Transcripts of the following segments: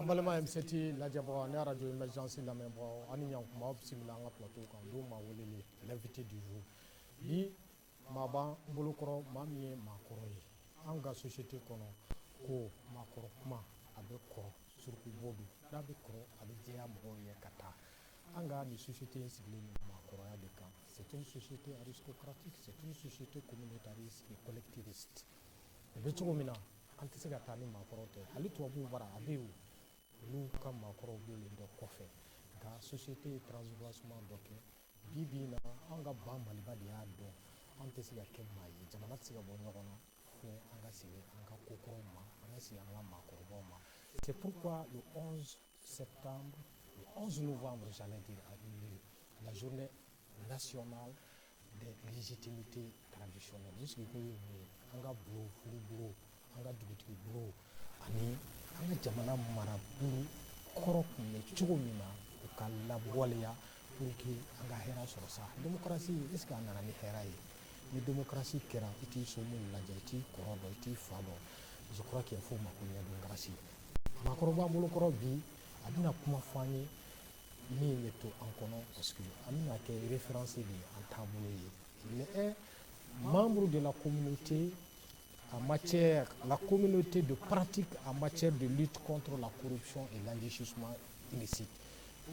An balimaw M7 lajɛbagaw ani radio émergence lamɛnbagaw aw ni ɲankuma aw bisimila an ka plateau kan don maa welelen l'invité du jour bi Maa b'an bolokɔrɔ maa min ye maakɔrɔ ye an ka société kɔnɔ ko maakɔrɔ kuma a bɛ kɔrɔ suruku bo don n'a bɛ kɔrɔ a bɛ jɛya mɔgɔw ye ka taa an ka nin société in sigilen bɛ maakɔrɔya de kan c'est une société aristocratique c'est une société communautariste et collectiviste o bɛ cogo min na an tɛ se ka taa ni maakɔrɔ tɛ hali tubabuw bara a bɛ yen olu ka maakɔrɔw bɛ yen dɔ kɔfɛ nka société ye transvancement dɔ kɛ Bi bi in na an ka ba maliba de y'a dɔn an tɛ se ka kɛ maa ye jamana tɛ se ka bɔ ɲɔgɔn na fo an ka segin an ka kokɔrɔw ma an ka segin an ka maakɔrɔbaw ma c'est pourquoi le 11 septembre le 11 novembre j'allais dire a eu lieu la journée nationale des légitimités traditionnelles o sigikun ye mun ye an ka bulon furu bulon an ka dugutigi bulon ani an ka jamana marabulon kɔrɔ tun bɛ cogo min na u ka lawaleya pour que an ka hɛrɛ sɔrɔ sa démocratie est ce que a nana ni hɛrɛ ye ni démocratie kɛra i t'i somɔgɔ lajɛ i t'i kɔrɔ dɔn i t'i fa dɔn je crois qu'il faut mako ɲɛ démocratie maakɔrɔ b'an bolokɔrɔ bi a bɛna kuma fɔ an ye min bɛ to an kɔnɔ parce que a bɛna kɛ référence de ye an taabolo ye il est membre de la communauté A ma cɛ la ko minnu tɛ don pati a ma cɛ don ni tɔgɔtɔ la koc i lasi suma misi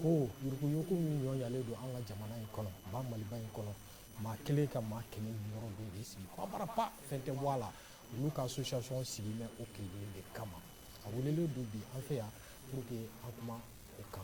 ko yuruguyugu min ɲɔnlen don an ka jamana in kɔnɔ ba maliba in kɔnɔ maa kelen ka maa kelen yɔrɔ don de sigi kɔrɔbarara fɛn tɛ bɔ a la olu ka sosocɔn sigi bɛ o ki de kama a wele don bi an fɛ yan pur que an kuma o kan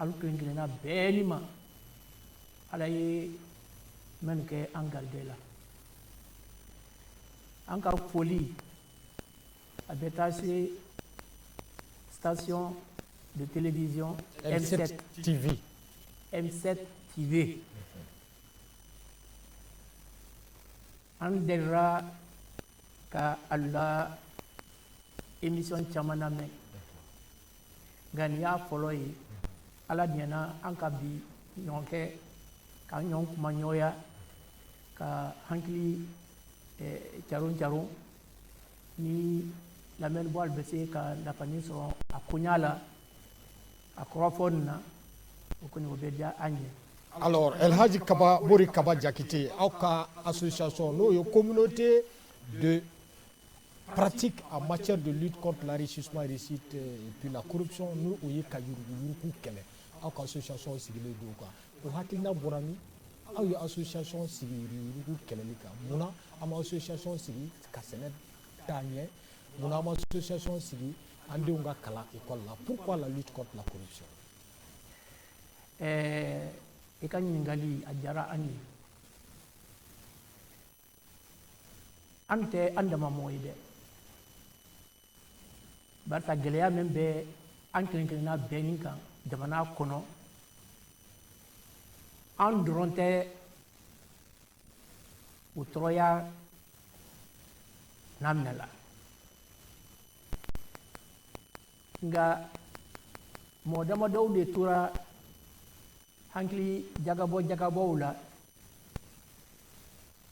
alu kelen kelenna bɛɛ ni ma ala ye minnu kɛ an garijɛ la an ka foli a bɛ taa se station de télévision M7 TV M7 TV an dɛra ka a la émission caman lamɛn nka nin y'a fɔlɔ ye ala diɲɛna an ka bi ɲɔgɔn kɛ ka ɲɔgɔn kuma ɲɔgɔnya ka hankili eh, caron caron ni lamɛnbaalu bɛ se ka nafanin sɔrɔ a koɲa la a kɔrɔfɔ nin na o kɔni o bɛ diya an ye alors El Hadji Kaba Mori Kaba Jakite, aw ka association nin o ye communauté de pratique en matière de lutte contre l'enrichissement illicite euh, et puis la corruption ni o ye ka yuruguyurugu kɛlɛ aw ka association sigilen don o kan o hakilina bɔra min aw ye association sigi yuruguyurugu kɛlɛli kan mun na aw ma association sigi ka sɛnɛ taa ɲɛ mun na aw ma association sigi an denw ka kalan école la pourquoi la lutte contre la corruption ɛɛ eh, i ka ɲininkali a diyara an ye an tɛ an dama mɔgɔ ye dɛ barisa gɛlɛya min bɛ an kelen kelenna bɛɛ ni kan jamana kɔnɔ an dɔrɔn tɛ o tɔɔrɔya naminɛ la nka mɔgɔ damadɔw de tora hakili jagabɔ jagabɔw la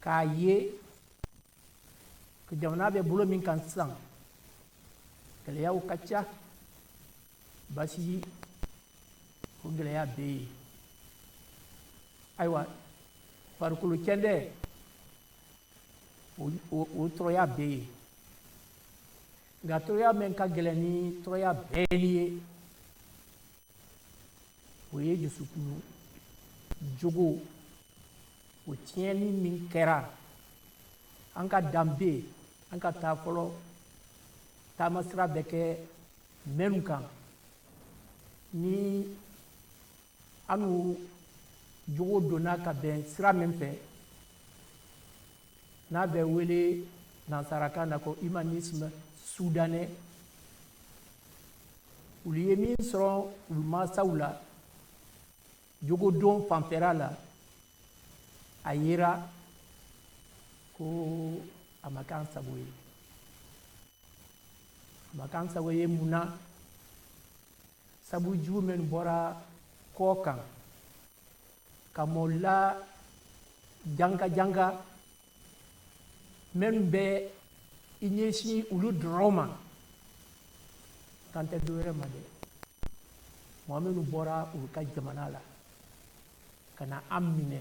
k'a ye jamana bɛ bolo min kan sisan gɛlɛyaw ka ca basigi o gɛlɛya bɛ yen ayiwa farikolo kɛndɛ o tɔɔrɔya bɛ yen nka tɔɔrɔya min ka gɛlɛn ni tɔɔrɔya bɛɛ ye o ye jusukun jogo o tiɲɛni min kɛra an ka danbe an ka taa fɔlɔ taamasira bɛ kɛ minnu kan ni anu jogo donna ka bɛn sira min fɛ n'a bɛ wele nansarakan na ko humanisme soudanais olu ye min sɔrɔ olu mansaw la jogodon fanfɛla la a yera ko a ma k'an sago ye a ma k'an sago ye mun na sabu jugu minnu bɔra kɔkan ka mɔla janga janga minnu bɛ i ɲɛsin olu dɔrɔn ma kan tɛ dɔ wɛrɛ ma dɛ mɔgɔ minnu bɔra olu ka jamana la ka na an minɛ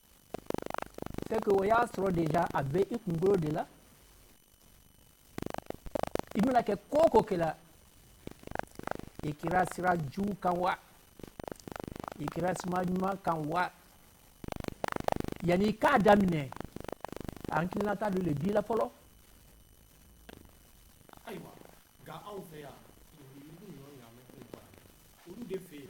c'est que o y'a sɔrɔ déjà a bɛ i kunkolo de la i bɛna kɛ ko o ko kɛ la i kɛra sira jugu kan wa i kɛra sira ɲuman kan wa yanni i k'a daminɛ hakilinata dɔ de b'i la fɔlɔ. ayiwa nka anw fɛ yan olu de fɛ yen.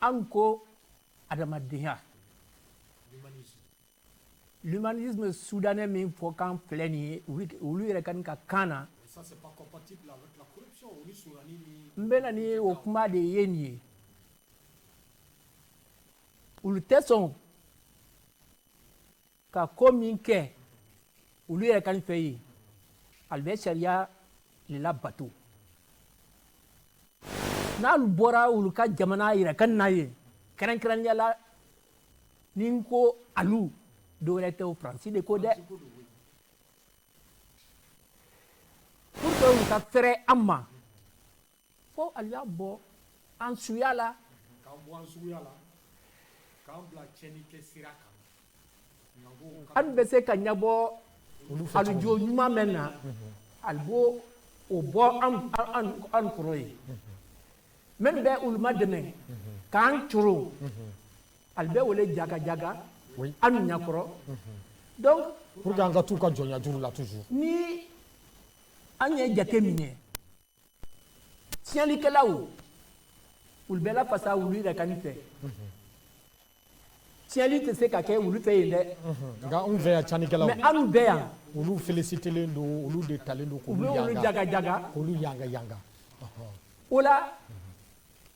an ko adamadenya l'humanisme soudanais min fɔ kan filɛ nin ye olu yɛrɛ kani ka kan na n bɛna ni o kuma de ye nin ye olu tɛ sɔn ka ko min kɛ olu yɛrɛ kani fɛ yen alu bɛ sariya le labato n'alu bɔra olu ka jamana yɛrɛ kani na yen kɛrɛnkɛrɛnya la ni n ko alu dɔwɛrɛ tɛ o faransi de ko dɛ pour que olu ka fɛrɛ an ma fo alu y'an bɔ an suya la k'an bɔ an suya la k'an bila tiɲɛni kɛ sira kan an bɛ se ka ɲɛbɔ alu jogo ɲuman min na alu b'o bɔ an kɔrɔ yen min bɛ olu madɛmɛ k'an coro alu bɛ o le jagajaga an ɲakɔrɔ donc pour que an ka t'u ka jɔnya juru la toujours ni an ye jate minɛ tiɲɛlikɛlaw olu bɛ lafasa olu yɛrɛ kani fɛ tiɲɛli tɛ se ka kɛ olu fɛ yen dɛ nka anw fɛ yan tiɲɛlikɛlaw mais anw bɛ yan olu félicitelen don olu de talen don k'olu yanga k'olu yanga yanga o la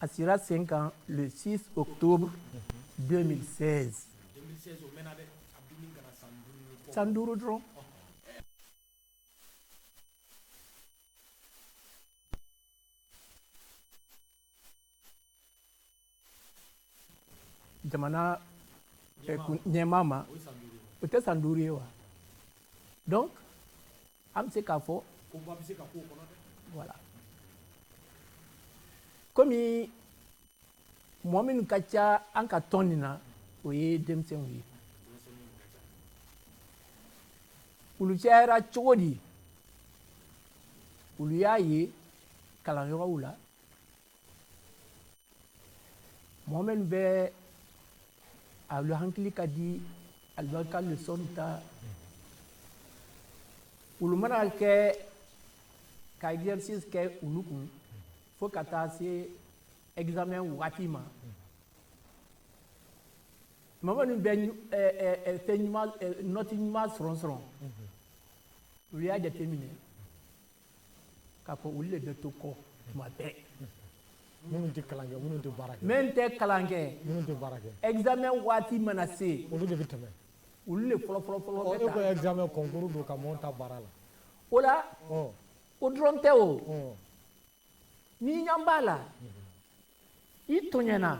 A sigira sen kan le 6 octobre 2016 san duuru dɔrɔn jamana ɲɛmaa ma o tɛ san duuru ye wa donc An bɛ se k'a fɔ voilà kɔmi mɔgɔ minnu ka ca an ka tɔn nin na o ye denmisɛnw ye olu cayara cogo di olu y'a ye kalanyɔrɔw la mɔgɔ minnu bɛ alu hakili ka di alu b'alu ka lesɔn ta olu mana kɛ ka exercice kɛ olu kun fo ka taa se examen wagati ma mɔgɔ minnu bɛ fɛn ɲuman nɔti ɲuman sɔrɔ sɔrɔ olu y'a jateminɛ k'a fɔ olu de bɛ to kɔ tuma bɛɛ minnu tɛ kalan kɛ minnu tɛ baara kɛ minnu tɛ kalan kɛ minnu tɛ baara kɛ examen waati mana se olu de bɛ tɛmɛ olu de fɔlɔ fɔlɔ fɔlɔ bɛ ta e ko examen concours don ka mɔɔ ta baara la o la o dɔrɔn tɛ o ni ɲan b'a la i tɔɲɛna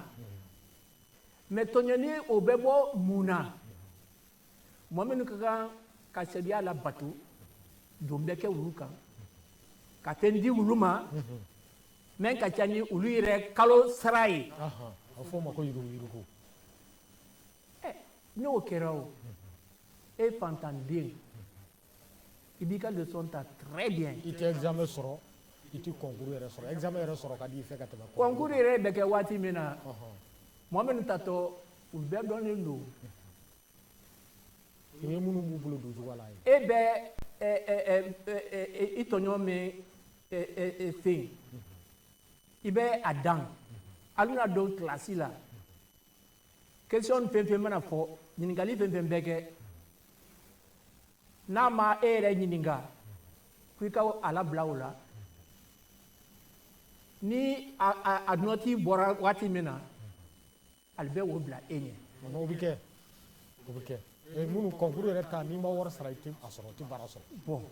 mais tɔɲɛni o bɛ bɔ mun na mɔgɔ minnu ka kan ka sariya labato don bɛ kɛ olu kan ka fɛn di olu ma min ka ca ni olu yɛrɛ kalo sara ye a fɔ o ma ko yuruguyurugu n'o kɛra o e fantanden i b'i ka leçon ta très bien i tɛ examen sɔrɔ i tɛ concours yɛrɛ sɔrɔ examen yɛrɛ sɔrɔ ka di i fɛ ka tɛmɛ concours yɛrɛ bɛ kɛ waati min na mɔgɔ minnu tatɔ u bɛɛ dɔnnen don i ye minnu b'u bolo don cogoya la e bɛ i tɔɲɔgɔn min fɛ yen i bɛ a dan a bɛna don kilasi la question fɛnfɛn mana fɔ ɲininkali fɛnfɛn bɛ kɛ n'a ma e yɛrɛ ɲininka ko i ka a labila o la ni a nɔti bɔra waati min na ale bɛ o bila e ɲɛ o bɛ kɛ o bɛ kɛ minnu concours yɛrɛ ta n'i ma wari sara i tɛ a sɔrɔ i tɛ baara sɔrɔ bon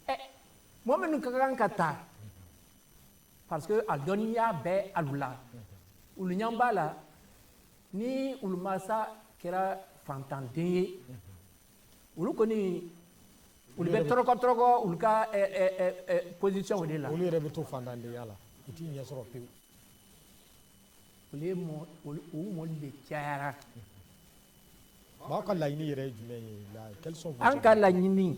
ɛ mɔgɔ minnu ka kan ka taa parce que a dɔnniya bɛ alu la olu ɲɛ b'a la ni olu masa kɛra fantanden ye olu kɔni olu bɛ tɔrɔkɔ tɔrɔkɔ olu ka eh, eh, eh, position de la olu yɛrɛ bɛ to fantandenya la u t'i ɲɛ sɔrɔ pewu olu ye mɔ u mɔlu de cayara mais aw ka laɲini yɛrɛ ye jumɛn ye la quels sont an ka laɲini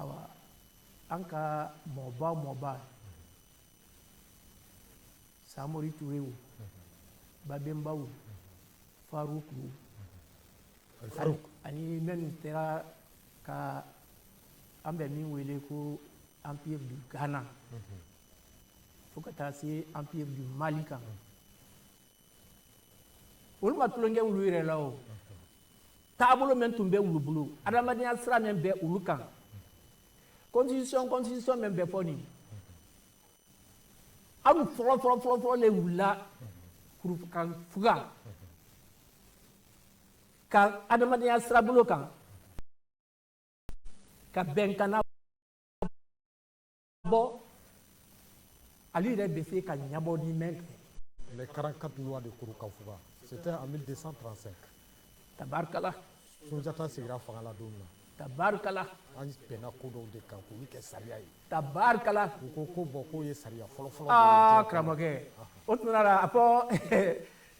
awa an ka mɔba mɔba samori ture o babenba o faruku ani minnu tera ka an bɛ min wele ko empire du ghana fo ka taa se empire du mali kan olu ma tulon kɛ olu yɛrɛ la o taabolo min tun bɛ olu bolo adamadenya sira min bɛ olu kan constitution constitution min bɛ fɔ nin aw fɔlɔ fɔlɔ fɔlɔ fɔlɔ le wulila ka fuga ka adamadenya sirabolo kan ka bɛnkan bɔ ale yɛrɛ bɛ se ka ɲabɔ ni min kɛ les 44 lois de Kurukafuga c'était en 1235 tabarikala sunjata sigira fanga la don min na tabarikala an bɛnna ko dɔw de kan k'olu kɛ sariya ye tabarikala u ko ko bon k'o ye sariya fɔlɔfɔlɔ aa karamɔgɔkɛ o tuma la a fɔ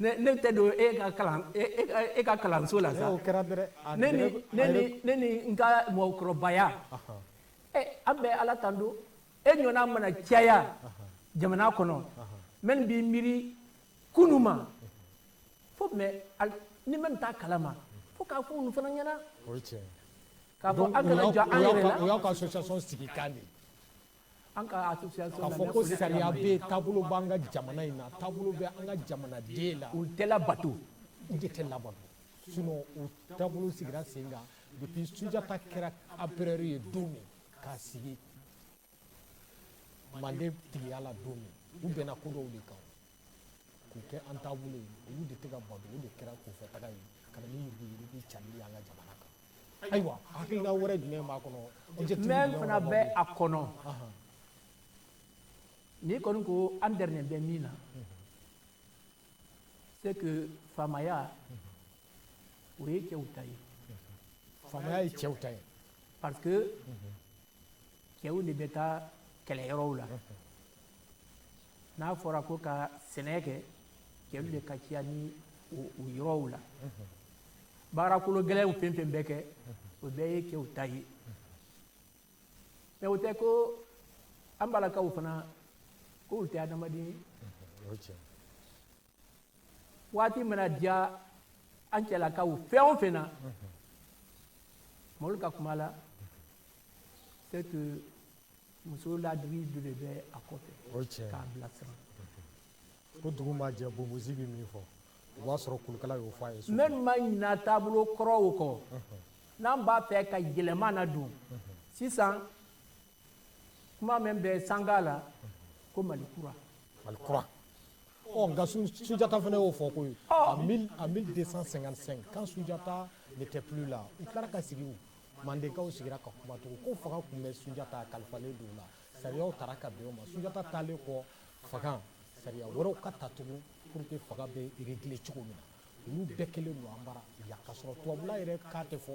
ne tɛ don e ka kalan e ka kalanso la sa o kɛra dɛrɛ ne ni ne ni n ka mɔgɔkɔrɔbaya an bɛ ala tando e ɲɔgɔnna mana caya jamana kɔnɔ minnu b'i miiri kunun ma fo mɛ ni minnu t'a kalama fo k'a fɔ olu fana ɲɛna k'a fɔ an kana jɔ an yɛrɛ la o y'aw ka association sigi kan de an ka association k'a fɔ ko sariya bɛ taabolo b'an ka jamana in na taabolo bɛ an ka jamanaden la u tɛ labato u de tɛ labato sinon o taabolo sigira sen kan depuis sunjata kɛra empereur ye don min k'a sigi manden tigiya la don min u bɛnna ko dɔw de kan k'u kɛ an taabolo ye olu de tɛ ka bato o de kɛra kunfɛtaga ye ka na ni yuruguyurugu cali ye an ka jamana kan ayiwa hakilina wɛrɛ jumɛn b'a kɔnɔ min fana bɛ a kɔnɔ n'i kɔni ko an derinen bɛ min na c'est que faamaya o ye cɛw ta ye faamaya ye cɛw ta ye parce que cɛw de bɛ taa kɛlɛyɔrɔw la n'a fɔra ko ka sɛnɛ kɛ cɛw de ka ciya ni o yɔrɔw la baarakolo gɛlɛnw fɛn fɛn bɛ kɛ o bɛɛ ye cɛw ta ye mais o tɛ ko an balakaw fana k'olu tɛ adamaden waati mana diya an cɛlakaw fɛn o fɛn na mɔlu ka kuma la c'est que muso ladiri dɔ de bɛ a kɔfɛ k'a bilasira ko dugu ma jɛ bonbonsi bɛ min fɔ o b'a sɔrɔ turukala y'o fɔ a ye ne ma ɲina taabolo kɔrɔw kɔ n'an b'a fɛ ka yɛlɛma nadon sisan kuma min bɛ sanga la ko mali kura mali kura ɔ nka sujata fana y'o fɔ koyi en mille en mille deux cent cinquante cinq quand sujata n'était plus là u tilara ka sigi o mandenkaw sigira ka kuma tugun ko fanga tun bɛ sujata kalifalen don la sariyaw tara ka bɛn o ma sujata taalen kɔ fanga sariya wɛrɛw ka ta tugun pour que fanga bɛ régler cogo min na olu bɛɛ kɛlen don an bara yan k'a sɔrɔ tubabula yɛrɛ k'a tɛ fɔ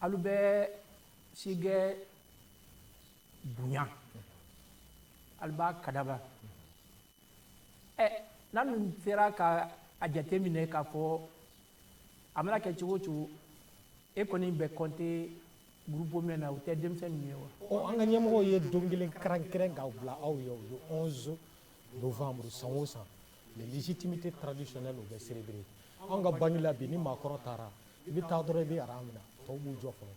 alu bɛ sigɛ bonya alu b'a kadaba ɛ eh, n'a dun sera ka a jateminɛ k'a fɔ a mana kɛ cogo o cogo e kɔni bɛ compter groupe mɛn na o tɛ denmisɛn ninnu ye wa. ɔ oh, an ka ɲɛmɔgɔw ye don kelen kɛrɛnkɛrɛn k'a bila aw ye o ye 11 novembre san o san. les légitimités traditionnelles u bɛ célébrer an ka banque la bi ni maakɔrɔ taara i bɛ taa dɔrɔn i bɛ aran minɛ tɔw b'u jɔ fɔlɔ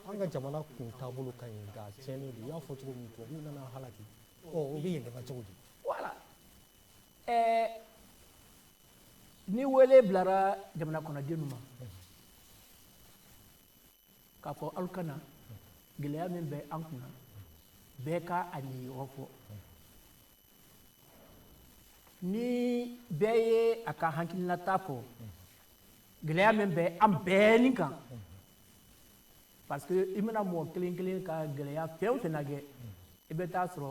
an ka jamana kun taabolo ka ɲi nka tiɲɛnen don i y'a fɔ cogo min tubabuw nana halaki ɔ o bɛ yɛlɛma cogo di voilà ɛɛ eh, ni wele bilara jamana kɔnɔdenw ma k'a fɔ aw ka na gɛlɛya min bɛ an kunna bɛɛ ka a niyɔrɔ fɔ ni bɛɛ ye a ka hakilinata fɔ gɛlɛya min bɛ an bɛɛ ni kan parce que i mana mɔgɔ kelen kelen ka gɛlɛya fɛn o fɛn lajɛ i bɛ taa sɔrɔ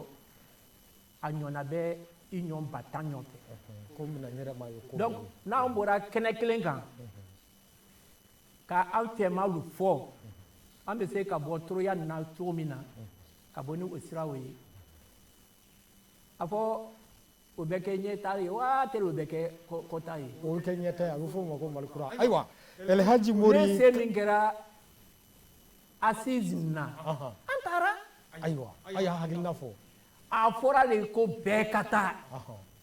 a ɲɔna bɛ i ɲɔn ba tan ɲɔgɔn fɛ donc n'an bɔra kɛnɛ kelen kan ka an fɛmalu fɔ an bɛ se ka bɔ tɔrɔya nin na cogo min na ka bɔ ni o siraw ye a fɔ o bɛ kɛ ɲɛtaa ye waa teri o bɛ kɛ kɔta ye o bɛ kɛ ɲɛtaa ye a bɛ fɔ o ma ko mali kura ayiwa elhaji mori ne se min kɛra assise na an taara ayiwa a y'a hakilina fɔ a fɔra de ko bɛɛ ka taa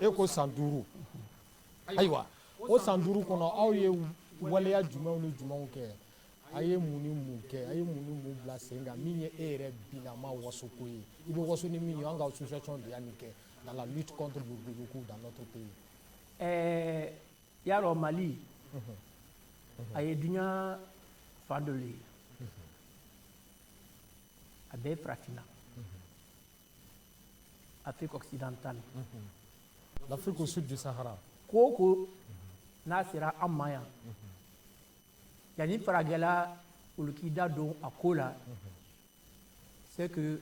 e ko san duuru ayiwa o san duuru kɔnɔ aw ye waleya jumɛnw ni jumɛnw kɛ a ye mun ni mun kɛ a ye mun ni mun bila sen kan min ye e yɛrɛ binama wasoko ye i bɛ waso ni min ye an ka association de y'a nin kɛ dans la lutte contre le yuruguyurugu dans notre pays ɛɛ y'a dɔn mali a ye duɲa fan dɔ le ye a bɛɛ farafinna Afrique occidentale l'Afrique au sud du Sahara ko o ko n'a sera an ma yan yanni farajɛla olu k'i da don a ko la c'est que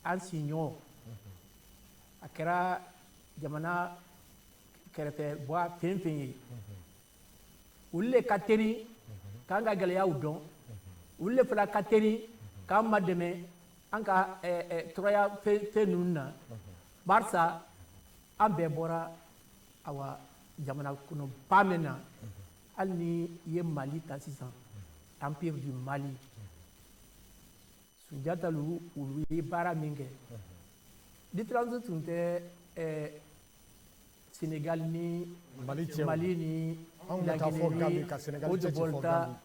an siɲɔgɔn a kɛra jamana kɛrɛfɛ bɔ fɛn fɛn ye olu le ka teri k'an ka gɛlɛyaw dɔn olu le fana ka teri k'an madɛmɛ an ka eh, eh, tɔrɔya fɛn ninnu na barisa an bɛɛ bɔra awa jamana kɔnɔ ba min na hali n'i ye mali ta sisan empire du mali sunjata lu olu ye baara min kɛ différence tun tɛ ɛɛ senegal ni mali cɛ mali ni laginɛ ni haute volta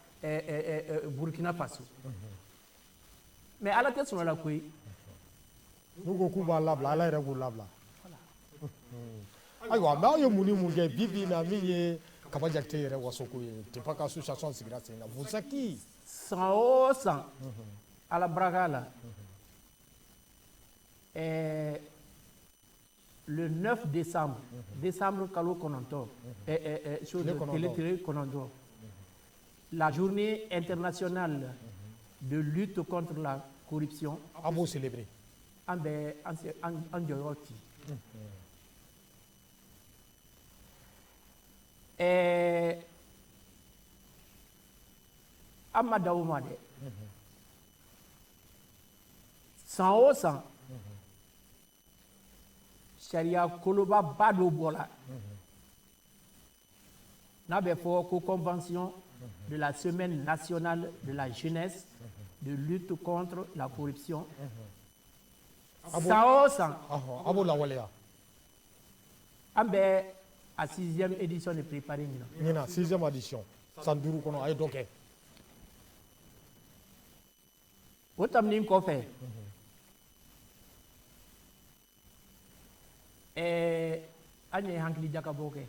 burkina faso mais ala tɛ sɔn a la koyi n'u ko k'u b'a labila ala yɛrɛ b'u labila ayiwa mais aw ye mun ni mun kɛ bi bi in na min ye kaba jakite yɛrɛ wasoko ye depuis a ka association sigira sen kan vous êtes qui san o san ala baraka la ɛɛ le 9 décembre décembre kalo kɔnɔntɔn ɛɛ tile kɔnɔntɔn la journée internationale de lutte contre la corruption an b'o célébrer an bɛ an jɔyɔrɔ ci ɛɛ an ma dan o ma dɛ san o san sariya kolobaba dɔ bɔra n'a bɛ fɔ ko convention de la semaine nationale de la jeunesse de lutte contre la corruption san o san a b'o lawaleya an bɛ a sixième édition de préparer ɲinan ɲinan sixième édition san duuru kɔnɔ a ye dɔ kɛ o tɛmɛnen kɔfɛ ɛɛ an ye hakili jakabɔ kɛ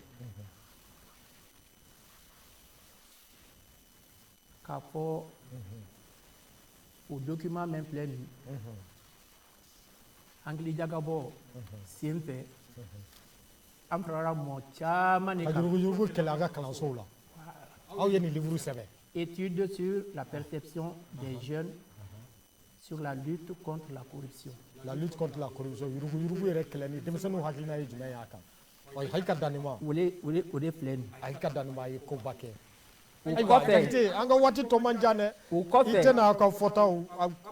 k'a fɔ o document min filɛ nin hakilijakabɔ sen fɛ an farala mɔɔ caman de kan ka yuruguyurugu kɛlɛ a ka kalansow la aw ye nin livre sɛbɛn étude sur la perception des jeunes sur la lutte contre la corruption la lutte contre la corruption yuruguyurugu yɛrɛ kɛlɛli denmisɛnninw hakilina ye jumɛn y'a kan Wa hali ka dan ma o de filɛ a ka dan ye koba kɛ an ka waati tɔ man jan dɛ i tɛna aw ka fɔtaw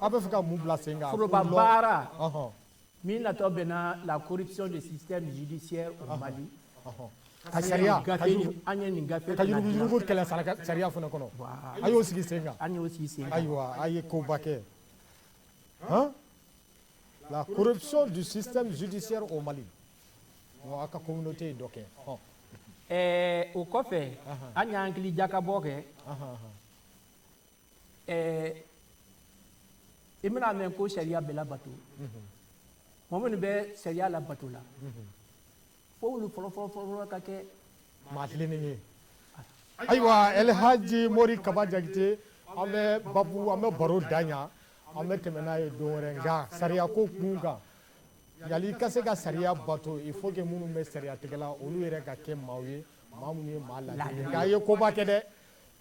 aw bɛ fɛ ka mun bila sen kan baara min natɔ bɛ na la corruption du système judiciaire au Mali ka sariya an ye nin gafe ka yuruguyurugu kɛlɛ sariya fana kɔnɔ a y'o sigi sen kan an y'o sigi sen kan ayiwa a ye koba kɛ la corruption du système judiciaire au Mali Ɔ, a ka communauté ye dɔ kɛ ɔ ɛɛ o kɔfɛ an y'an hakili jakabɔ kɛ ɛɛ i bɛna a mɛn ko sariya bɛ labato mɔgɔ minnu bɛ sariya labato la fo olu fɔlɔ fɔlɔ fɔlɔ fɔlɔ ka kɛ maa tilennen ye ayiwa el haji mori kaba jakite an bɛ babu an bɛ baro dan yan an bɛ tɛmɛ n'a ye don wɛrɛ nka sariyako kun kan Yali ka se ka sariya bato il faut que minnu bɛ sariya tigɛla olu yɛrɛ ka kɛ maaw ye maa minnu ye maa ladiri nka a ye koba kɛ dɛ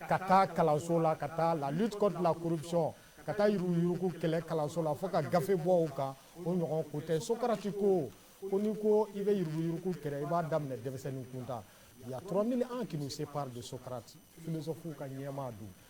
ka taa kalanso la ka taa la lutte contre la corruption ka taa yuruguyurugu kɛlɛ kalanso la fo ka gafe bɔ o kan o ɲɔgɔn ko tɛ Socrate ko ko n'i ko i bɛ yuruguyurugu kɛlɛ i b'a daminɛ denmisɛnnin kunda y a trois mille ans qui nous séparent de Socrate philosophe ka ɲɛma don